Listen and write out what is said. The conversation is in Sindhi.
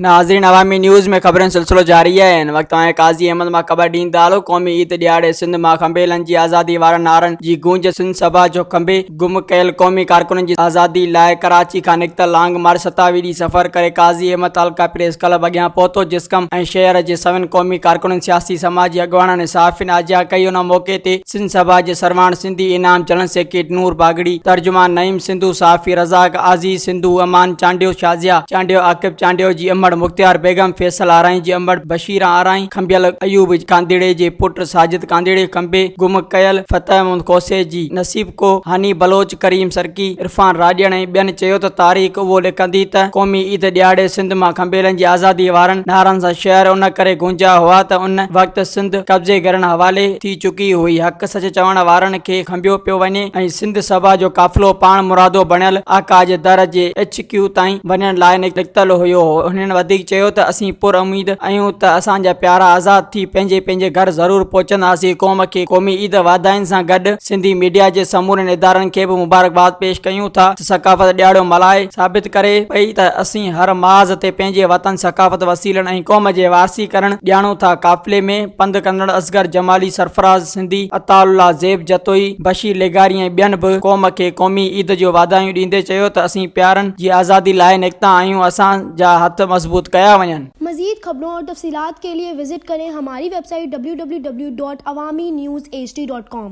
ناظرين عوامي نيوز ۾ خبرن سلسلو جاري آهي هن وقت توهان قاضي احمد مان خبر ڏيندا هلو قومي عيد ڏيهاڙي سنڌ مان کنڀيلن جي آزادي وارن نعرن جي گونج سنڌ سڀا جو کنڀي گم ڪيل قومي ڪارڪنن جي آزادي لاء ڪراچي کان نڪتل لانگ مارچ ستاوي ڏينهن سفر ڪري قاضي احمد تعلقه پريس ڪلب اڳيان پهتو جسقم ۽ شهر جي سوين قومي ڪارڪنن سياسي سماجي اڳواڻن ۽ صحافين آجيان ڪئي ان موقعي تي سنڌ سڀا جي سرواڻ سنڌي انعام جنرل سيڪريٽري نور باگڙي، ترجمان نعيم سنڌو، صحافي رزاق، عزيز سنڌو، امان چانڊيو، شازيا چانڊيو، عاقب چانڊيو جي امڙ، مختيار بيگم، فيصل آرائين جي امڙ، بشير آرائين، کنڀيل ايوب ڪانڌڙي جي پٽ، ساجد ڪانڌڙي کنڀي، گم ڪيل فتح محمد کوسي جي نصيب ڪوهه، هاني بلوچ، ڪريم سرڪي، عرفان راڄڙ ۽ ٻين چيو ته تاريخ اهو لکندي ته قومي عيد ڏيهاڙي سنڌ مان کنڀيلن جي آزادي وارن نعرن سان شعر ان ڪري گونجيا هئا ته ان وقت سنڌ قبضيگرن حوالي ٿي چڪي هئي، حق سچ چوڻ وارن کي کنڀيو پيو وڃي ۽ سنڌ سڀا جو قافلو پاڻ مرادو بڻيل آقا جي در جي ايڇ ڪيو تائين وڃڻ لاء نڪتل هيو. هنن وڌيڪ چيو ته اسين پر اميد اهيون ته اسان جا پيارا آزاد ٿي پنهنجي پنهنجي گهر ضرور پهچنداسين قوم کي قومي عيد واڌاين سان گڏ سنڌي ميڊيا جي سمورين ادارن کي به مبارڪباد پيش ڪيون ٿا ته ثقافت ڏياڙو ملهائي ثابت ڪري پئي ته اسين هر ماز تي پنهنجي وطن ثقافت وسيلن ۽ قوم جي وارثي ڪرڻ ڄاڻون ٿا قافلي ۾ پنڌ ڪندڙ اصغر جمالي، سرفراز سنڌي، عطاء الله زيب جتوئي، بشير لغاري ۽ ٻين به قوم کي قومي عيد جون واڌايون ڏيندي چيو ته اسين پيارن جي آزادي لاء نڪتا آهيون اسان جا هٿ مضبوط ڪيا وڃن. مزيد خبرون اور تفصيلات کے لئے وزٽ ڪرين ھماري ويب سائيٽ www.awaminews.hd.com.